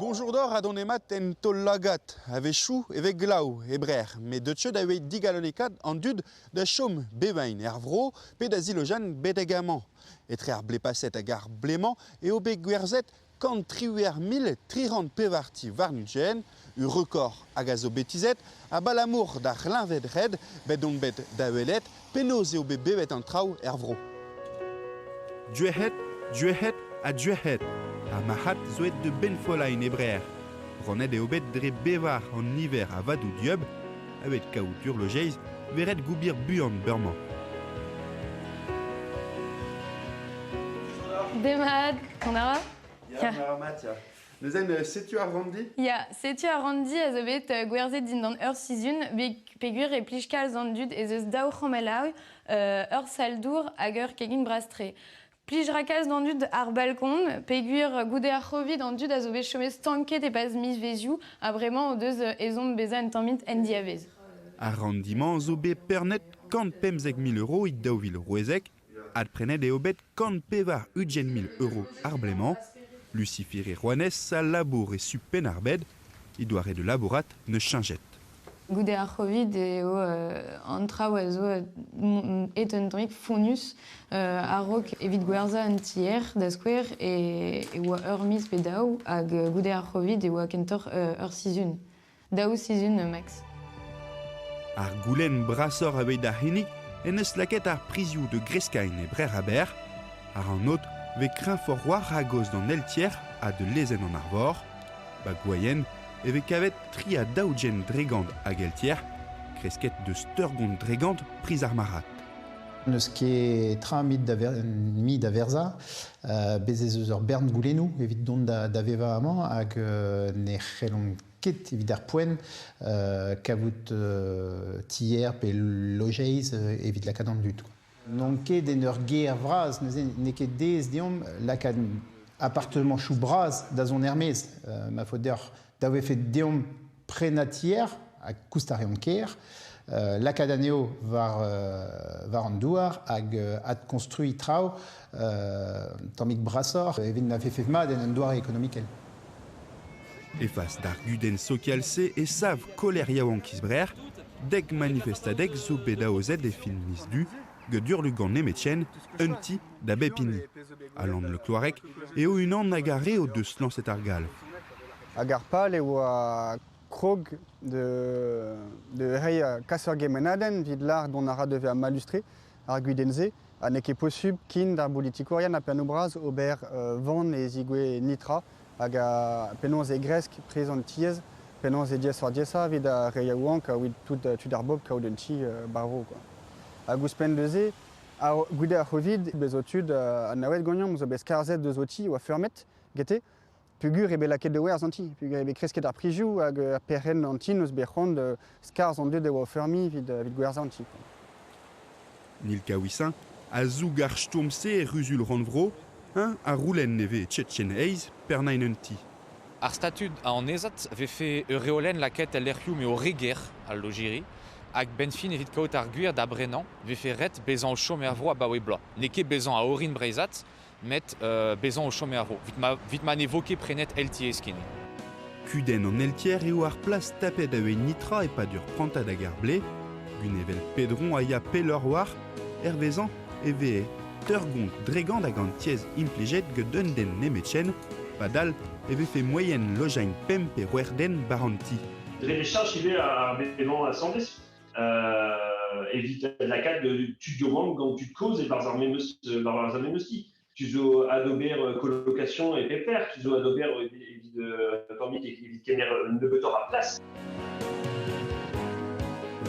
Boñjour deoc'h ha donemat en taol-lagad. A-wechoù e vez glav e Brec'h, met deuet eo da vez digalonekaet an dud da chom bevain er vro pe da zilojañ betek amañ. Etre ar blez paset hag ar blez-mañ eo bet gwerzhet Kant triwec'h mil tri c'hant pevar-ti warn-ugent, ur rekord hag a zo bet tizhet abalamour d'ar c'hleñved-red bet on bet da welet penaos eo bet bevet an traoù er vro. Duec'hed, duec'hed ha duec'hed ha marc'had zo aet da benfollaén e Brec'h. Rannet eo bet dre bevar an niver a vadoù dieub avet kaout urlojeiz veret goubir buan beurmañ. Demad On a ra Ya, Matias. Neuzen, euh, setu ar randi Ya, setu ar randi a zo bet euh, gwerzhet dindan ur sizhun peogwir e plij kalz an dud ez eus daou c'homelaoui, euh, ur saldour hag ur kegin brastre. Plij ra kalz d'an dud ar balkon, peogwir goude ar Covid an dud a zo bet chomet stanket e-paz mizvezioù ha bremañ o deus euh, ezhomm bezañ un tammig en diavez. Ar rendiment zo bet pernet kant pemzek mil euro e daou vil rouezek Adprenet eo bet kant pevar ugent mil euro ar blez-mañ. Lucifir e rouanez a labour e su Penn-ar-Bed, he doare de labourat ne cheñchet. Goude ar Covid eo an traoù a zo aet un drik fonnus a-raok evit gwerzhañ un tier, da skouer, e oa ur miz pe daou hag goude ar Covid e oa kentoc'h ur sizhun. Daou sizhun, Max. Ar goulenn brasoc'h evit ar c'hinnig en eus lakaet ar prizioù de Greskain e Brec'h Aber. Ar an ot vez kreñfoc'h war ragoz d'an eltier ha de lezenn an arvor. Ba gwaien e vez kavet tri a daou jen dregant hag eltier, kresket deus teurgont dregant priz ar marc'had. N'eus ket tra mit da, ver, mi da verzañ. Uh, bez' ez eus ur bern goulennoù evit dont da, da vevañ amañ hag uh, ne c'hellont ket evit ar poent kavout tier pe lojeiz evit lakaat an dud. N'on ket en ur gêr vras, neuze n'eo ket aes deomp lakaat appartemanchou bras da zont er-maez. Euh, ma faot deoc'h da vefe deomp prenañ tier, ha koust a reont ker, euh, lakaat anezho war, euh, war an douar hag euh, adkonstruiñ traoù un tammig brasoc'h evit na vefe mat en un doare ekonomikel. Efas d'ar gudenn sokial-se e sav koler yaouank isbrer, dek manifestadeg zo bet aozet e fin miz du, Gudurlugan nemetien, un ti da bep hini. Alan Le Cloarec eo unan hag ar re o deus lañset ar gal. Hag ar pal eo krog de, de reiñ kas ur gemanadenn evit lâr dont a ra da vezañ malustre. ar gudenn-se, ha n'eo ket posubl ken d'ar bolitikourien ha pennoù-bras ober van e zigouez nitra hag penaos e gresk priz an tiez, penaos e diaesoc'h-diaesañ evit ar re yaouank evit tud ar bobl kaout un ti ba'r vro. Hag ouzhpenn neuze, goude ar Covid, bezo tud anaouet ganeomp zo bet skarzhet deus ho ti, oa feurmet gete, Peogwir eo bet lakaet da werzh an ti, peogwir eo bet kresket ar prizioù hag ar perc'henn an ti n'eus bet c'hoant skarzh an dud e oa o feurmiñ evit gwerzhañ an ti. Nilka Ouissin a zoug ar stourm-se er Ruzul-rannvro, eñ a roulenn e vez Tchetchen Heiz pernain un ti. Ar statud a annezad vefe ur reolenn lakaet el lec'hioù m'eo re ger al lojiri hag 'benn fin evit kaout ar gwir da brenañ 'vefe ret bezañ o chom er vro abaoe bloaz. N'eo ket bezañ a orin breizhat met bezañ o chom er vro evit ma ne vo ket prenet Eltiez ken. Kudenn an Eltier eo ar plas tapet da wez nitra e-pad ur prantad hag ar blez. Gunevel Pedron a ya pelloc'h war, hervezañ, e vehe teurgont dregant hag an tiez implijet get un den nemetken, padal e vefe moaien lojañ pemp pe c'hwec'h den bar an ti. Dre echaj ivez ar bed-mañ asambles. evit lakaat tu du Rome gant tud kozh e-barzh ar memeus ar memeussi. Tu zo adober colocation et pepper, tu zo adober evit evit kemer nebeutoc'h a place.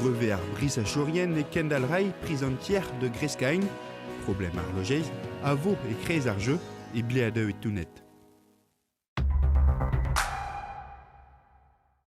Brevet ar brisachorienne et Kendall Ray, prisontière de Grescagne, problème ar logez, a vo e krez ar jeu e bleadeu e tounet.